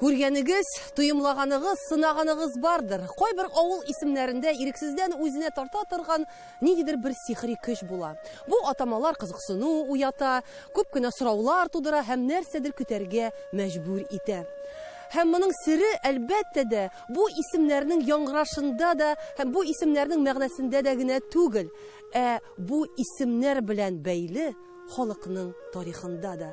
Күргәнегез, тоемлаганыгыз, сынаганыгыз бардыр. Кайбер авыл исемнәрендә ирексездән үзенә тарта торган ниндидер бер сихри көч була. Бу атамалар кызыксыну уята, күп кенә сораулар тудыра һәм нәрсәдер көтәргә мәҗбүр итә. Һәм моның сере, әлбәттә дә, бу исемнәрнең яңгырашында да һәм бу исемнәрнең мәгънәсендә дә генә түгел, ә бу исемнәр белән бәйле халыкның тарихында да.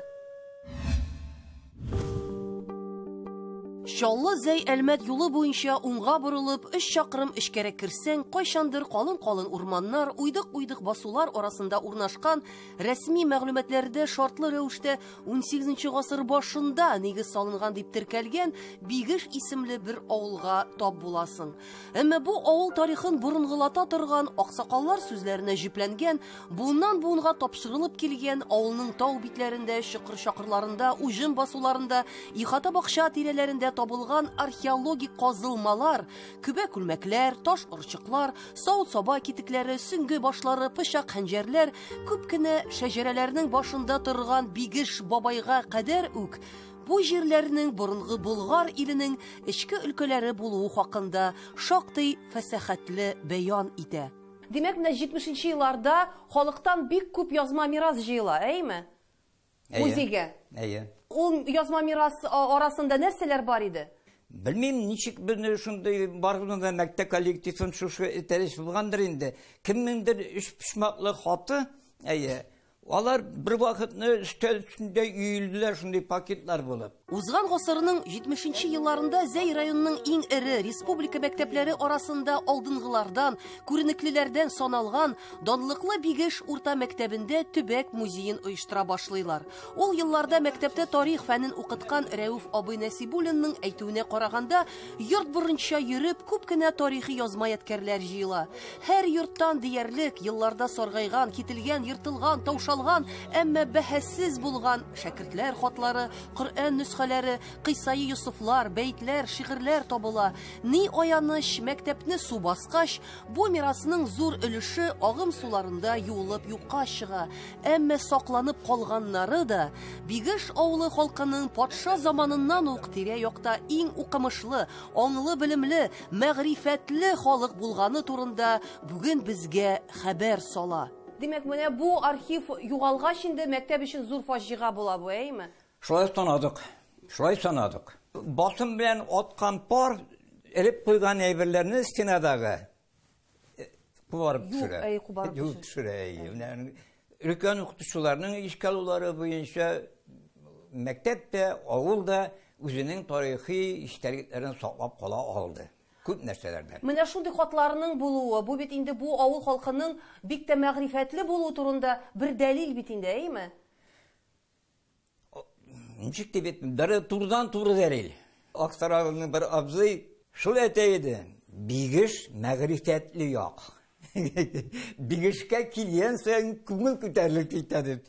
Чаллы Зәй Әлмәт юлы буенча уңга борылып, өч чакрым эчкәрәк керсәң, кайчандыр калын-калын урманнар, уйдык-уйдык басулар арасында урнашкан рәсми мәгълүматларда шартлы рәвештә 18 гасыр башында нигез салынган дип теркәлгән Бигеш исемле бер авылга тап буласың. Әмма бу авыл тарихын борынгылата торган аксакаллар сүзләренә җипләнгән, буыннан буынга тапшырылып килгән авылның тау битләрендә, чокыр-чакырларында, уҗым басуларында, ихата бакча тирәләрендә табылган археологик казылмалар, көбә күлмәкләр, таш орчыклар, савыт-саба китекләре, сөнге башлары, пычак хәнҗәрләр, күп кенә шәҗәрәләрнең башында торган бигеш бабайга кадәр үк Бу җирләрнең борынгы Болгар иленең эчке өлкәләре булуы хакында шактый фәсәхәтле бәян итә. Димәк, менә 70 нче елларда халыктан бик күп язма мирас җыела, әйеме? Музейга. Әйе. Ул язма мирас арасында нәрсәләр бар иде? Белмим, ничек безне шундый барган да мәктәп коллективын шушы этәреш булгандыр инде. Кемнеңдер өч почмаклы хаты, әйе, Алар бер вакытны өстәл өстендә өелделәр шундый пакетлар булып. Узган гасырның 70 нче елларында Зәй районының иң эре республика мәктәпләре арасында алдынгылардан, күренеклеләрдән саналган данлыклы Бигеш урта мәктәбендә төбәк музеен оештыра башлыйлар. Ул елларда мәктәптә тарих фәнен укыткан Рәүф абый Нәсибуллинның әйтүенә караганда, йорт борынча йөреп, күп кенә тарихи язма-ядкәрләр җыела. Һәр йорттан диярлек елларда саргайган, кителгән, ертылган, таушалган, әмма бәһасез булган шәкертләр хатлары, Коръән нөсхәләре, кыйсаи Йосыфлар, бәетләр, шигырьләр табыла. Ни аяныч, мәктәпне су баскач, бу мирасның зур өлеше агым суларында юылып юкка чыга. Әмма сакланып калганнары да Бигеш авылы халкының патша заманыннан ук тирә-якта иң укымышлы, аңлы белемле, мәгърифәтле халык булганы турында бүген безгә хәбәр сала. Димәк, менә бу архив югалгач инде мәктәп өчен зур фаҗига була бу, әйеме? Шулай санадык. Шулай санадык. Басым белән аткан пар, элеп куйган әйберләрне стенадагы, кубарып төшерә. Юк, әй, кубарып төшерә. Юк, төшерә, әй. Менә өлкән укытучыларның ишкалулары буенча мәктәп тә, авыл да үзенең тарихи иштәлекләрен саклап кала алды. Күп нәрсәләрдән. Менә шундый хатларның булуы, бу бит инде бу авыл халкының бик тә мәгърифәтле булуы турында бер дәлил бит инде, әйеме? Ничек дип әйтмим, бер турдан туры дәрил. Аксарагының бер абзый шул әйтә иде. Бигеш мәгърифәтле як. Бигешкә килгән саен күңел күтәрелеп китә дип.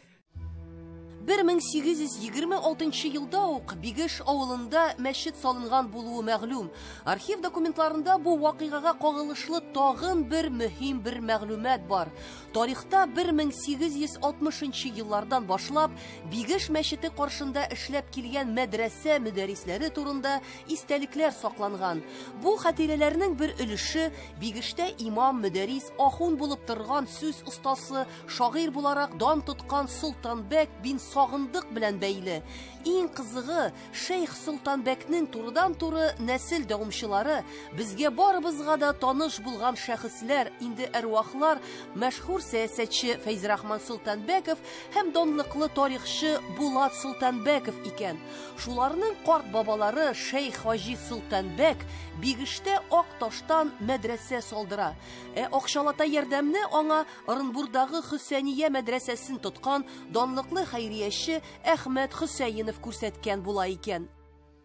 1826 елда ук Бигеш авылында мәчет салынган булуы мәгълүм. Архив документларында бу вакыйгага кагылышлы тагын бер мөһим бер мәгълүмат бар. Тарихта 1860 еллардан башлап Бигеш мәчете каршында эшләп килгән мәдрәсә мөдәрисләре турында истәлекләр сакланган. Бу хатирәләрнең бер өлеше Бигештә имам, мөдәрис, ахун булып торган сүз остасы, шагыйр буларак дан тоткан Солтанбәк бин Сагындык белән бәйле. Иң кызыгы, Шейх Солтанбәкнең турыдан-туры нәсел дәвамчылары, безгә барыбызга да таныш булган шәхесләр, инде әрвахлар, мәшһүр сәясәтче Фәйзрахман Солтанбәков һәм данлыклы тарихчы Булат Солтанбәков икән. Шуларның карт бабалары шейх Хаҗи Солтанбәк Бигештә ак таштан мәдрәсә салдыра. Ә акчалата ярдәмне аңа Ырынбурдагы Хөсәния мәдрәсәсен тоткан данлыклы хәйрияче Әхмәт Хөсәенов күрсәткән була икән.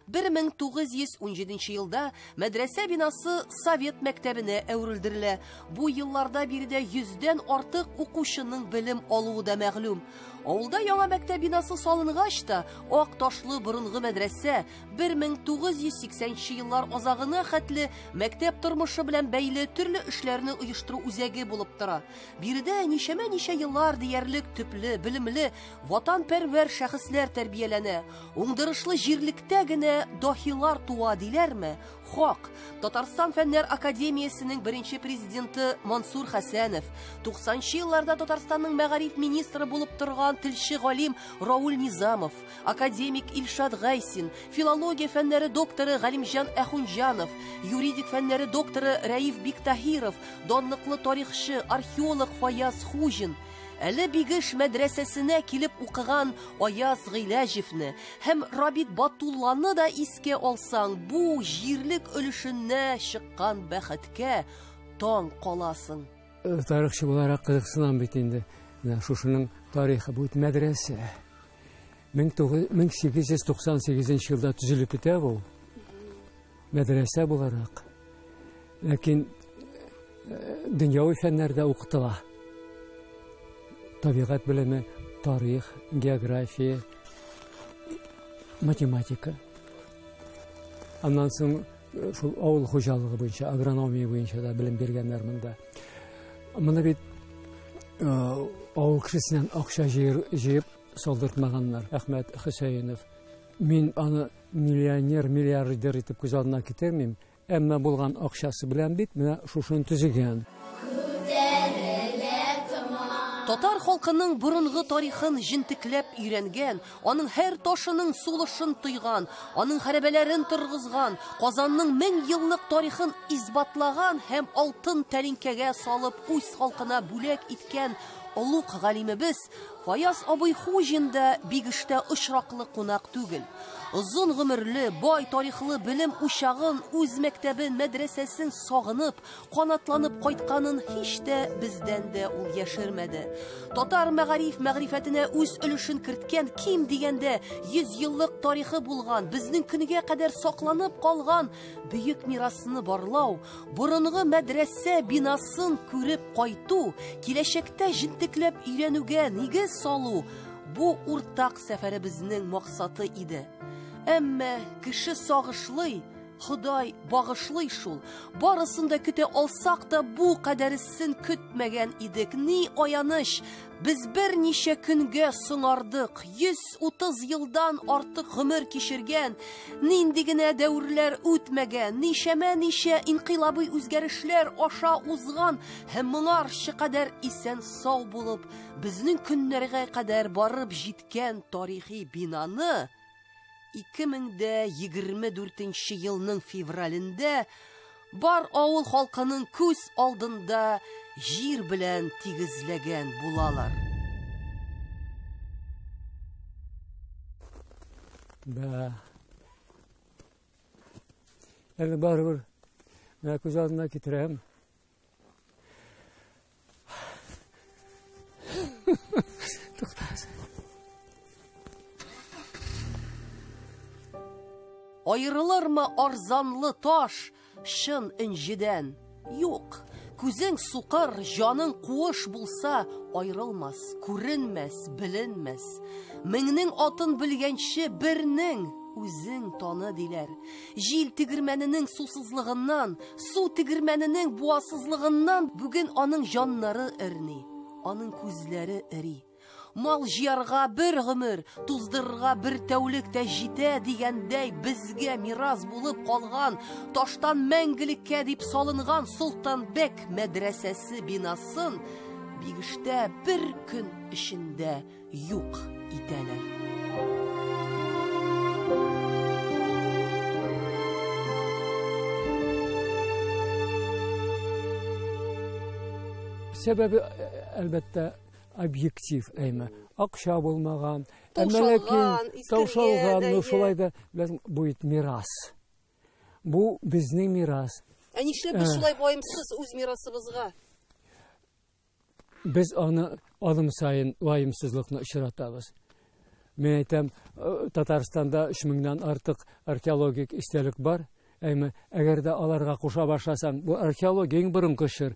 1917 елда мәдрәсә бинасы совет мәктәбенә әверелдерелә. Бу елларда биредә йөздән артык укучының белем алуы да мәгълүм. Авылда яңа мәктәп бинасы салынгач та, ак ташлы борынгы мәдрәсә 1980 еллар азагына хәтле мәктәп тормышы белән бәйле төрле эшләрне оештыру үзәге булып тора. Биредә ничәмә ничә еллар диярлек төпле, белемле, ватанпәрвәр шәхесләр тәрбияләнә, уңдырышлы җирлектә генә дохилар туа диләрме? Хак. Татарстан фәннәр академиясенең беренче президенты Мансур Хәсәнов, 90 елларда Татарстанның мәгариф министры булып торган телче галим Рауль Низамов, академик Илшат Гайсин, филология фәннәре докторы Галимҗан Әхунҗанов, юридик фәннәре докторы Рәиф Биктаһиров, данлыклы тарихчы, археолог Фаяз Хуҗин – Әле Бигеш мәдрәсәсенә килеп укыган Аяз Гыйләҗевне һәм Рабит Батулланы да искә алсаң, бу җирлек өлешенә чыккан бәхеткә таң каласың. Э, тарихчы буларак кызыксынам бит инде. Менә шушының тарихы бу мәдрәсә. 1898 елда төзелеп китә бу. Мәдрәсә буларак, ләкин дөньяви фәннәрдә укытыла. Табигать белеме, тарих, география, математика. Аннан соң э, шул авыл хуҗалыгы буенча, агрономия буенча да белем биргәннәр монда. Моны бит э, авыл кешесеннән акча җыеп салдыртмаганнар. Әхмәт Хөсәенов Мин аны миллионер, миллиардер итеп күз алдына китермим, әмма булган акчасы белән бит менә шушыны төзегән. Татар халкының борынгы тарихын җентекләп өйрәнгән, аның һәр ташының сулышын тойган, аның хәрәбәләрен торгызган, Казанның мең еллык тарихын исбатлаган һәм алтын тәлинкәгә салып үз халкына бүләк иткән олуг галимебез Фаяз абый Хуҗин да бик эштә очраклы кунак түгел. Озын гомерле, бай тарихлы белем учагын, үз мәктәбен, мәдрәсәсен сагынып, канатланып кайтканын һич тә бездән дә ул яшермәде. Татар мәгариф мәгърифәтенә үз өлешен керткән ким дигәндә 100 еллык тарихы булган, безнең көнгә кадәр сакланып калган бөек мирасны барлау, Борынгы мәдрәсә бинасын күреп кайту, киләчәктә җентекләп өйрәнүгә нигез салу бу уртак сәфәребезнең максаты иде. Әмма кеше сагышлый, Ходай багышлый шул. Барысын да көтә алсак та, бу кадәресен көтмәгән идек. Ни аяныч, Без берничә көнгә соңардык, 130 елдан артык гомер кичергән, нинди генә дәверләр үтмәгән, ничәмә ничә инкыйлабый үзгәрешләр аша узган һәм моңарчы кадәр исән сау булып, безнең көннәргә кадәр барып җиткән тарихи бинаны 2024 елның февралендә бар авыл халкының күз алдында җир белән тигезләгән булалар. Бә. Әле барыбер, менә күз алдына китерәм. Аерылырмы арзанлы таш чын инҗедән? Юк. Күзең сукыр, җаның куыш булса, аерылмас, күренмәс, беленмәс. Меңнең атын белгәнче бернең үзең таны диләр. Җил тегермәненең сусызлыгыннан, су тегермәненең буасызлыгыннан бүген аның җаннары эрни, аның күзләре эри. Мал җыярга бер гомер, туздырырга бер тәүлек тә җитә дигәндәй, безгә мирас булып калган, таштан мәңгелеккә дип салынган Солтанбәк мәдрәсәсе бинасын Бигештә бер көн эчендә юк итәләр. Сәбәбе, әлбәттә, объектив әйме. Акча булмаган, әмәләкин, таушалган, ну шулай да, ләкин бу бит мирас. Бу безнең мирас. Ә нишләп без шулай ваемсыз үз мирасыбызга? Без аны алым саен ваемсызлыкны очратабыз. Мин әйтәм, э, Татарстанда 3 меңнән артык археологик истәлек бар. Әмма әгәр дә аларга куша башласаң, бу археология иң борынгы чор.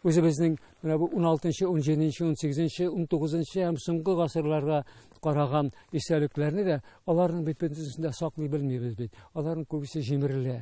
Үзебезнең менә бу 16-нчы, 17-нче, 18-нче, 19-нчы һәм соңгы гасырларга караган истәлекләрне дә аларның бит бөтенесен дә саклый белмибез бит. Аларның күбесе җимерелә.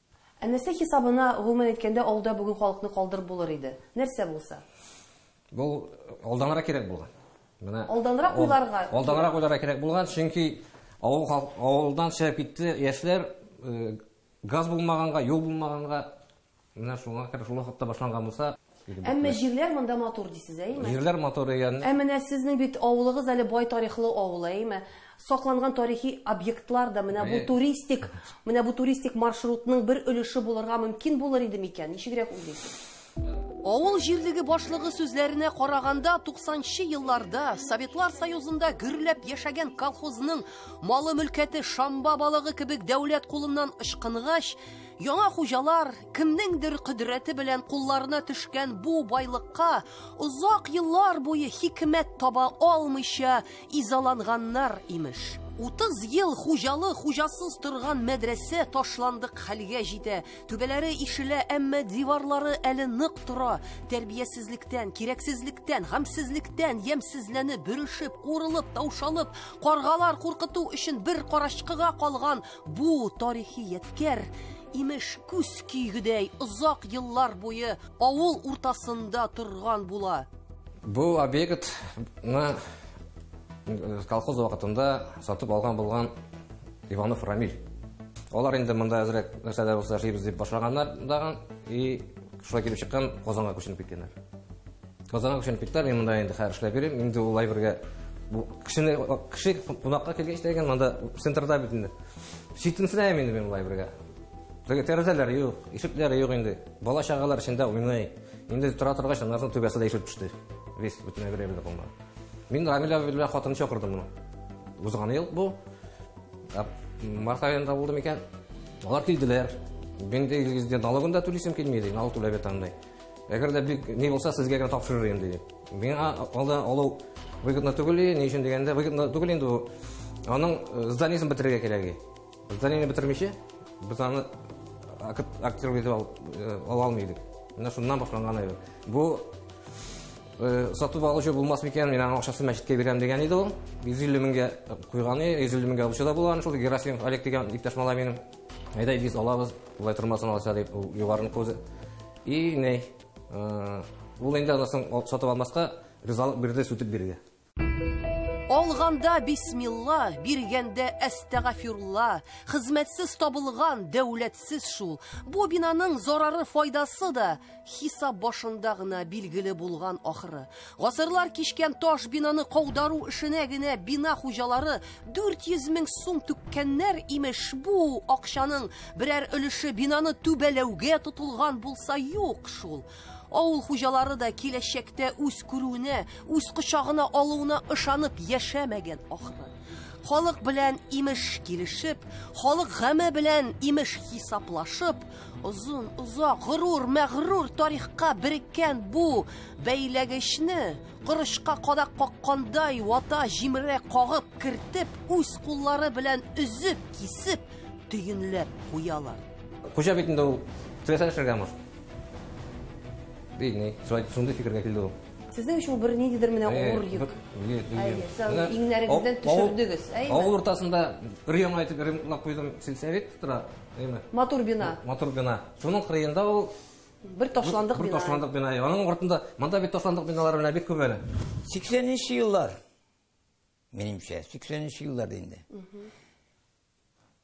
Ә нәрсә хисабына, гомумән әйткәндә, авылда бүген халыкны калдырып булыр иде? Нәрсә булса? Бу алданрак кирәк булган. Менә алданрак уйларга. Алданрак уйларга кирәк булган, чөнки авыл авылдан чыгып китте яшьләр э, газ булмаганга, юл булмаганга менә шуңа кадәр шул вакытта башланган булса, Әмма җирләр монда матур дисез, әйме? Җирләр матур дигән. Ә менә сезнең бит авылыгыз әле бай тарихлы авыл, әйме? Сакланган тарихи объектлар да менә бу туристик, менә бу туристик маршрутның бер өлеше булырга мөмкин булыр иде микән? Ничегрәк уйлыйсыз? Авыл җирлеге башлыгы сүзләренә караганда, 90-нчы елларда Советлар Союзында гөрләп яшәгән колхозның малы-мөлкәте шамба балыгы кебек дәүләт кулыннан ычкынгач, яңа хуҗалар Кемнеңдер кодрәте белән кулларына төшкән бу байлыкка озак еллар буе хикмәт таба алмыйча изаланганнар, имеш. 30 ел хуҗалы хуҗасыз торган мәдрәсә ташландык хәлгә җитә. Түбәләре ишелә, әмма диварлары әле нык тора. Тәрбиясезлектән, кирәксезлектән, гамьсезлектән ямьсезләнеп, бөрешеп, курылып, таушалып, каргалар куркыту өчен бер карачкыга калган бу тарихи ядкәр Имеш, күз көйгедәй озак еллар буе авыл уртасында торган була. Бу объектны колхоз вакытында сатып алган булган Иванов Рамиль. Алар инде монда әзрәк нәрсәләр булса эшлибез дип башлаганнар дагы и шулай килеп чыккан Казанга күченеп киткәннәр. Казанга күченеп киттеләр, мин монда инде хәзер эшләп йөрим. Инде ул әйбергә бу кешене кеше кунакка килгәч дигән монда центрда бит инде. Читенсенәм инде мин ул әйбергә. Теге тәрәзәләр юк, ишекләр юк инде. Бала чагалар эчендә уйный. Инде тора торгач, аннарның түбәсе дә ишелеп төште. Весь бүтән әйбер әйбер булмады. Мин Рамилә белән хатын чакырдым моны. Узган ел бу. Ә, Март аенда булды микән? Алар килделәр. Мин дә налогын да түлисем килми, ди, налог түләп ятам, ди. Әгәр дә бик ни булса, сезгә генә тапшырыр идем, диде. Миңа алда алу выгодно түгел, ни өчен дигәндә, выгодно түгел инде ул. Аның э, зданиесен бетерергә кирәк. Зданиене бетермичә, без аны актер итеп э, ала алмыйдык. Менә шуннан башланган иде. Бу э, сатып алучы булмас микән, мин аның акчасын мәчеткә бирәм дигән иде ул. 150 меңгә куйган, 150 меңгә алучы да булган, шул Герасимов Олег дигән иптәш малай минем. Әйдә, Илгиз, алабыз, болай тормасын алача дип, ул югарыныкы үзе. И, ни, э, ул инде аннан соң ал- сатып алмаска ризалык бирде сүтеп бирергә. Алганда бисмилла, биргәндә әстәгафирулла, хезмәтсез табылган, дәүләтсез шул. Бу бинаның зарары-файдасы да Хисап башында гына билгеле булган ахыры. Гасырлар кичкән таш бинаны каудару эшенә генә бина хуҗалары 400 мең сум түккәннәр, имеш, бу акчаның берәр өлеше бинаны түбәләүгә тотылган булса юк шул. Авыл хуҗалары да киләчәктә үз күрүенә, үз кочагына алуына ышанып яшәмәгән ахыры. Халык белән имеш килешеп, халык гаме белән имеш хисаплашып, Озын, озак, горур, мәгърур тарихка береккән бу бәйләгечне корычка кадак каккандай вата җимерә кагып кертеп, үз куллары белән өзеп, кисеп, төенләп куялар. Хуҗа бит инде ул теләсә эшләргә мыш. Бигни, шулай шундый фикергә килде ул. Сезнең өчен бер ниндидер менә авыр йөк. Иңнәрегездән төшердегез, әйе. Авыл уртасында өр яңа итеп ремонтлап куйдым, сельсовет тора. Әйме. Матур бина. Матур бина. Шуның кырыенда ул бер ташландык бина. Бер ташландык бина. Аның ортында монда бит ташландык биналар белән бик күп әле. 80-нче еллар. Минемчә, 80-нче еллар инде.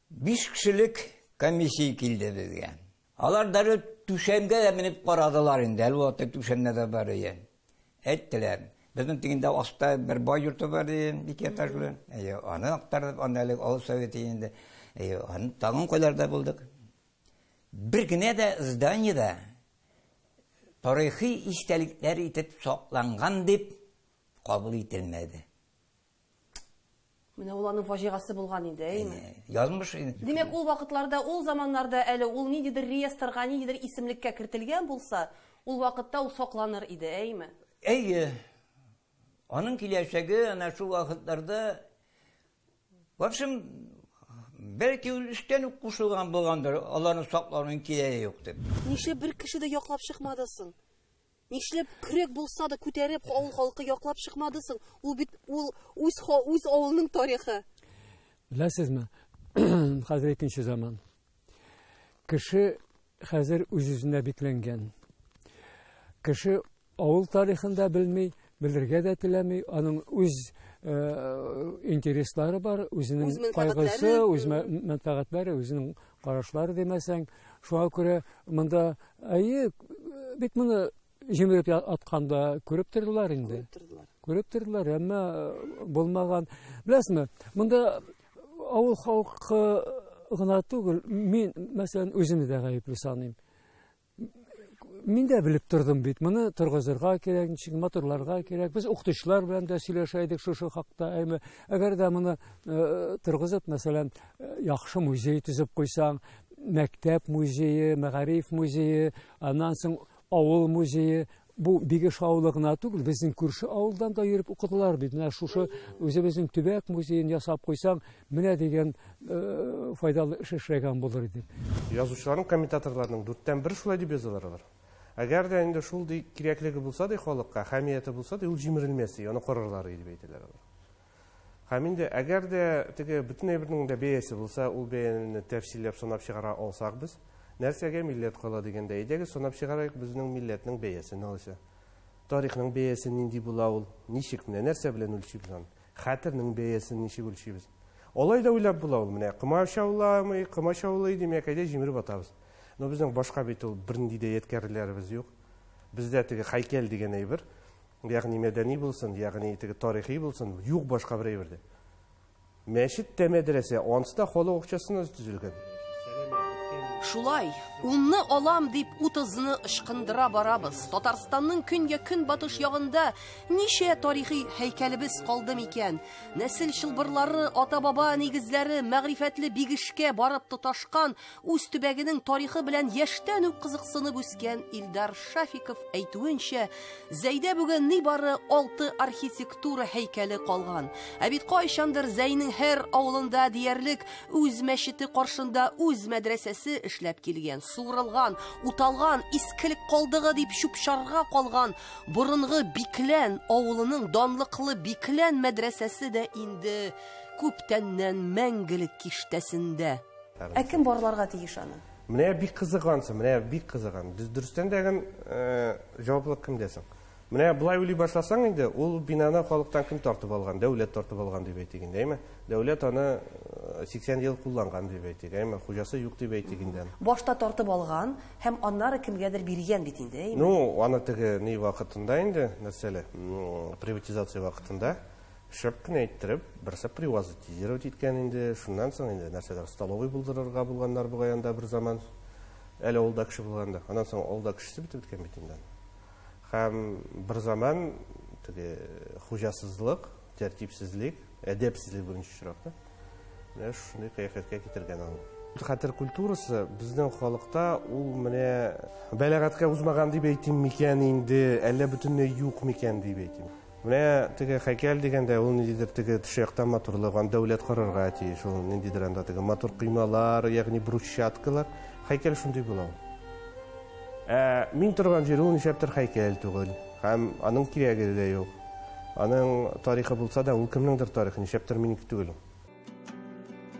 Биш кешелек комиссия килде безгә. Алар дәрет түшәмгә дә менеп карадылар инде. Әлбәттә, түшәмнәр дә бар икән. Әйттеләр. Безнең тигендә аста бер бай йорты бар дигән, ике этажлы. Әйе, аны актардык, аны әле авыл советы инде. Әйе, аны тагын кайларда булдык. Бер генә дә зданиедә тарихи истәлекләр итеп сакланган дип кабул ителмәде. Менә ул аның фаҗигасе булган иде, әйме? Язмыш. Димәк, ул вакытларда, ул заманнарда әле ул ниндидер реестрга, ниндидер исемлеккә кертелгән булса, ул вакытта ул сакланыр иде, әйме? Әйе. Аның киләчәге ана шул вакытларда В общем, бәлки ул эштән үк кушылган булгандыр, аларны саклауның кирәге юк дип. Нишләп бер кеше дә яклап чыкмадысың? Нишләп көрәк булса да күтәреп авыл халкы яклап чыкмады соң? Ул бит ул үз үз авылының тарихы. Беләсезме? Хәзер икенче заман. Кеше хәзер үз-үзенә бикләнгән. Кеше авыл тарихын да белми, белергә дә теләми, аның үз э, интереслары бар, үзенең кайгысы, үз мәнфәгатьләре, үзенең карашлары димәсәң, шуңа күрә монда әйе, бит моны җимереп атканда күреп тордылар инде. Күреп тордылар, әмма э, булмаган. Беләсезме, монда авыл халкы гына түгел, мин, мәсәлән, үземне дә гаепле саныйм. Мин дә белеп тордым бит, моны торгызырга кирәк, ничек моторларга кирәк. Без укытучылар белән дә сөйләшә идек шушы хакта. Әйме, әгәр дә моны э, торгызып, мәсәлән, э, яхшы музей төзеп куйсаң, мәктәп музее, мәгариф музее, аннан соң авыл музее, бу Бигеш авылы гына түгел, безнең күрше авылдан да йөреп укыдылар бит. Менә шушы үзебезнең төбәк музеен ясап куйсаң, менә дигән э, файдалы эш эшләгән булыр иде. Язучыларның комментаторларның дүрттән бер шулай дип язалар алар. Әгәр дә инде шул ди кирәклеге булса ди халыкка, хәмияте булса ди, ул җимерелмәс ди, аны карарлар иде дип әйтәләр алар. Һәм инде әгәр дә теге бөтен әйбернең дә бәясе булса, ул бәяне тәфсилләп санап чыгара алсак без, нәрсәгә милләт кала дигәндә, әйдәгез санап чыгарыйк безнең милләтнең бәясен алайса. Тарихның бәясе нинди була ул, ничек, менә нәрсә белән үлчибез аны? Хәтернең бәясен ничек үлчибез? Алай да уйлап була ул, менә комачауламый, комачаулый, димәк, әйдә җимереп атабыз. Но безнең башка бит ул бернинди дә ядкәрләребез юк. Бездә теге хәйкәл дигән әйбер. Ягъни мәдәни булсын, ягъни теге тарихи булсын, юк башка бер әйбер дә. Мәчет тә мәдрәсә, ансы да халык акчасына төзелгән. Шулай, унны алам дип утызны ычкындыра барабыз. Татарстанның көнгә көнбатыш ягында ничә тарихи һәйкәлебез калды микән? Нәсел чылбырлары, ата-баба нигезләре мәгърифәтле бигешкә барып тоташкан Үз төбәгенең тарихы белән яшьтән үк кызыксынып үскән Илдар Шафиков әйтүенчә, Зәйдә бүген ни бары алты архитектура һәйкәле калган. Ә бит кайчандыр Зәйнең һәр авылында диярлек үз мәчете каршында үз мәдрәсәсе эшләп килгән. Суырылган, уталган, искелек калдыгы дип чупчарга калган борынгы Биклән авылының данлыклы Биклән мәдрәсәсе дә инде күптәннән мәңгелек киштәсендә. Ә кем барларга тиеш аны? Менә бик кызыгансың, менә бик кызыган. Дөрестән дә гын э, җаваплылык кемдә соң? Менә болай уйлый башласаң инде, ул бинаны халыктан кем тартып алган? Дәүләт тартып алган дип әйтик инде, әйме? Дәүләт аны 80 э, ел кулланган дип әйтик, әйме? Хуҗасы юк дип әйтик инде. Башта тартып алган һәм аннары кемгәдер биргән бит инде, әйме? Ну, аны теге ни вакытында инде, нәрсәле, приватизация вакытында. Шәп кенә иттереп, берсе привазотизировать иткән инде, шуннан соң инде нәрсәдер столовый булдырырга булганнар бугай анда бер заман. Әле авылда кеше булганда. Аннан соң авылда кешесе бетеп беткән бит инде. Һәм бер заман теге хуҗасызлык, тәртипсезлек, әдәпсезлек беренче чиратта. Менә шундый кыяфәткә китергән аны. Хәтер культурасы безнең халыкта ул менә бәләгатькә узмаган дип әйтим микән инде, әллә бөтенләй юк микән дип әйтим. Менә теге хәйкәл дигәндә, ул ниндидер теге тышы яктан матурлык, аны дәүләт карарга тиеш. Ул ниндидер анда теге матур коймалар, ягъни брусчаткалар. Хәйкәл шундый була ул. Ә мин торган җир ул нишләптер хәйкәл түгел. Һәм аның кирәге дә юк. Аның тарихы булса да, ул кемнеңдер тарихы, нишләптер минеке түгел ул.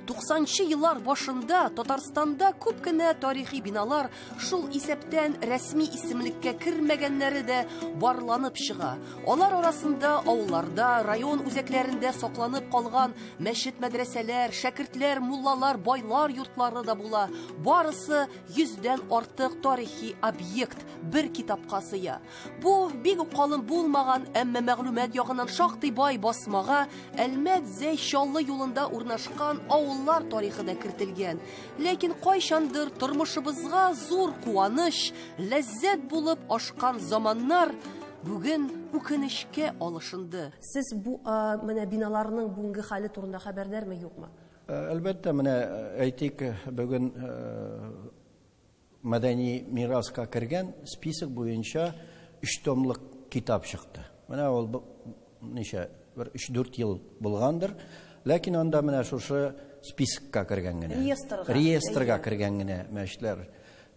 90нчы еллар башында Татарстанда күп кенә тарихи биналар, шул исәптән рәсми исемлеккә кермәгәннәре дә барланып чыга. Алар арасында авылларда, район үзәкләрендә сакланып калган мәчет-мәдрәсәләр, шәкертләр, муллалар, байлар йортлары да була. Барысы 100 дән артык тарихи объект бер китапка сыя. Бу бик үк калын булмаган, әмма мәгълүмат ягыннан шактый бай басмага Әлмәт Зәй Чаллы юлында урнашкан авыллар тарихы да кертелгән. Ләкин кайчандыр тормышыбызга зур куаныч, ләззәт булып ашкан заманнар бүген үкенечкә алышынды. Сез бу менә биналарның бүгенге хәле турында хәбәрдармы, юкмы? Әлбәттә, менә әйтик, бүген Мәдәни мираска кергән список буенча өч томлык китап чыкты. Менә ул ничә, бер 3-4 ел булгандыр. Ләкин анда менә шушы спискка кергән генә. Реестрга. Реестрга кергән генә мәчетләр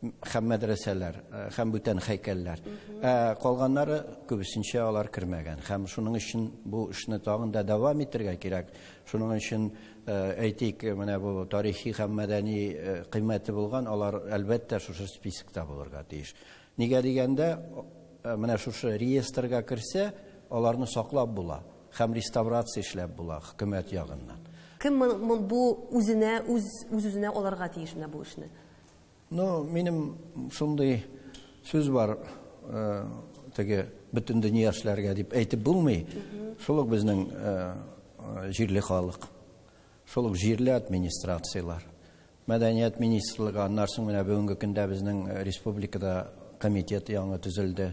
һәм мәдрәсәләр һәм бүтән хәйкәлләр. Ә калганнары күбесенчә алар кермәгән. Һәм шуның өчен бу эшне тагын да дәвам итәргә кирәк. Шуның өчен Әйтик, менә бу тарихи һәм мәдәни кыйммәте булган, алар әлбәттә шушы спискта булырга тиеш. Нигә дигәндә, менә шушы реестрга керсә, аларны саклап була һәм реставрация эшләп була хөкүмәт ягыннан. Кем бу үзенә, үз-үзенә алырга тиеш менә бу эшне? Ну, минем шундый сүз бар, теге бөтен дөнья эшләргә дип әйтеп булмый. Шул ук безнең җирле халык. Шул ук җирле администрацияләр. Мәдәният министрлыгы, аннарсың менә бүгенге көндә безнең республикада комитет яңа төзелде.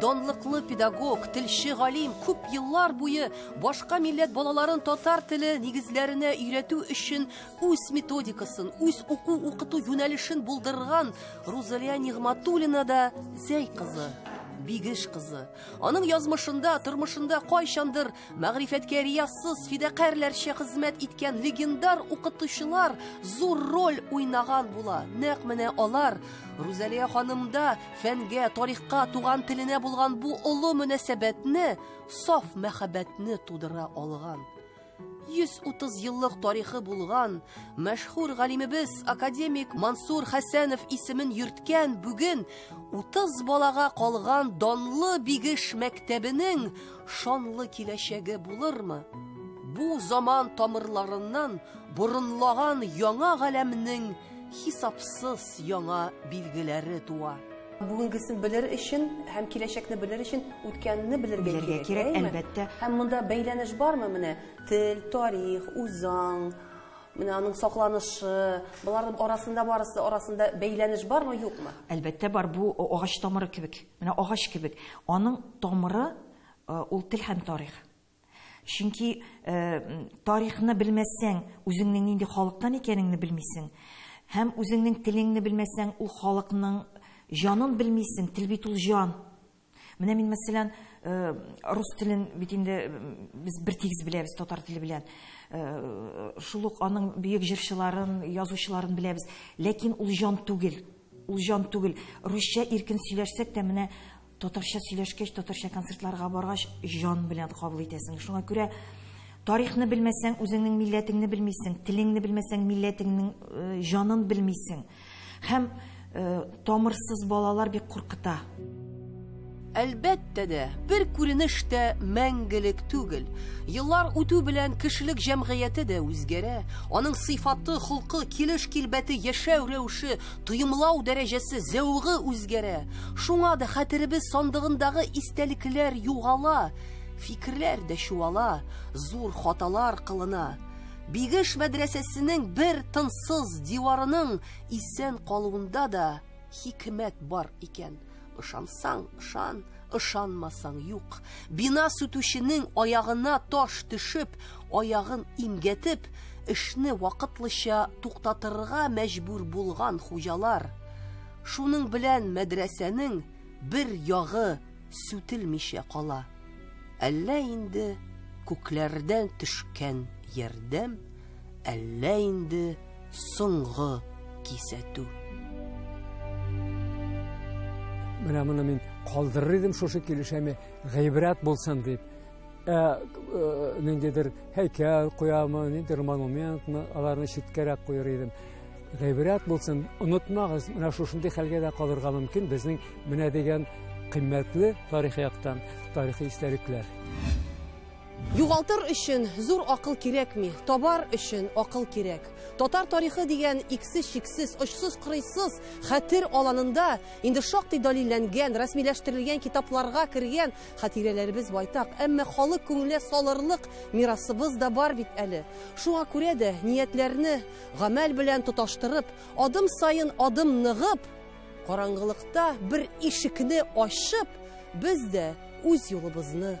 Данлыклы педагог, телче галим күп еллар буе башка милләт балаларын татар теле нигезләренә өйрәтү өчен үз методикасын, үз уку-укыту юнәлешен булдырган Рузалия Нигъматуллина да Зәй кызы, Бигеш кызы. Аның язмышында, тормышында кайчандыр Мәгърифәткә риясыз фидакарьләрчә хезмәт иткән легендар укытучылар зур роль уйнаган була. Нәкъ менә алар Рузалия ханымда фәнгә, тарихка, туган теленә булган бу олы мөнәсәбәтне, саф мәхәббәтне тудыра алган. 130 еллык тарихы булган мәшһүр галимебез академик Мансур Хәсәнов исемен йөрткән бүген 30 балага калган данлы Бигеш мәктәбенең шанлы киләчәге булырмы? Бу заман тамырларыннан борынлаган яңа галәмнең хисапсыз яңа билгеләре туа. Бүгенгесен белер өчен һәм киләчәкне белер өчен үткәнне белергә кирәк. Белергә кирәк, әлбәттә. Һәм монда бәйләнеш бармы менә? Тел, тарих, үзаң, менә аның сакланышы, болар арасында барысы арасында бәйләнеш бармы, юкмы? Әлбәттә бар, бу агач тамыры кебек. Менә агач кебек, аның тамыры ул тел һәм тарих. Чөнки тарихны белмәсәң, үзеңнең нинди халыктан икәнеңне белмисең. Һәм үзеңнең телеңне белмәсәң, ул халыкның җанын белмисең, тел бит ул җан. Менә мин, мәсәлән, э, рус телен бит инде без бер тигез беләбез татар теле белән. Э, шул ук аның бөек җырчыларын, язучыларын беләбез. Ләкин ул җан түгел. Ул җан түгел. Русча иркен сөйләшсәк тә, менә татарча сөйләшкәч, татарча концертларга баргач, җан белән кабул итәсең. Шуңа күрә тарихны белмәсәң, үзеңнең милләтеңне белмисең, телеңне белмәсәң, милләтеңнең э, җанын белмисең. Һәм э, тамырсыз балалар бик куркыта. Әлбәттә дә, бер күренеш тә мәңгелек түгел. Еллар үтү белән кешелек җәмгыяте дә үзгәрә. Аның сыйфаты, холкы, килеш-килбәте, яшәү рәвеше, тоемлау дәрәҗәсе, зәвыгы үзгәрә. Шуңа да хәтеребез сандыгындагы истәлекләр югала, фикерләр дә чуала, зур хаталар кылына. Бигеш мәдрәсәсенең бер тынсыз диварының исән калуында да хикмәт бар икән. Ышансаң, ышан, ышанмасаң юк. Бина сүтүченең аягына таш төшеп, аягын имгәтеп, эшне вакытлыча туктатырга мәҗбүр булган хуҗалар. Шуның белән мәдрәсәнең бер ягы сүтелмичә кала. Әллә инде күкләрдән төшкән ярдәм, әллә инде соңгы кисәтү. Менә моны мин калдырыр идем шушы килешәме, гыйбрәт булсын дип. Ә, ә ниндидер һәйкәл куямы, ниндидер монументмы, аларны читкәрәк куер идем. Гыйбрәт булсын, онытмагыз, менә шушындый хәлгә дә калырга мөмкин безнең менә дигән кыйммәтле тарихи яктан тарихи истәлекләр. Югалтыр өчен зур акыл кирәкми, табар өчен акыл кирәк. Татар тарихы дигән иксез-чиксез, очсыз-кырыйсыз хәтер аланында инде шактый далилләнгән, рәсмиләштерелгән китапларга кергән хатирәләребез байтак, әмма халык күңеленә салырлык мирасыбыз да бар бит әле. Шуңа күрә дә ниятләрне гамәл белән тоташтырып, адым саен адым ныгып, караңгылыкта бер ишекне ачып, без дә үз юлыбызны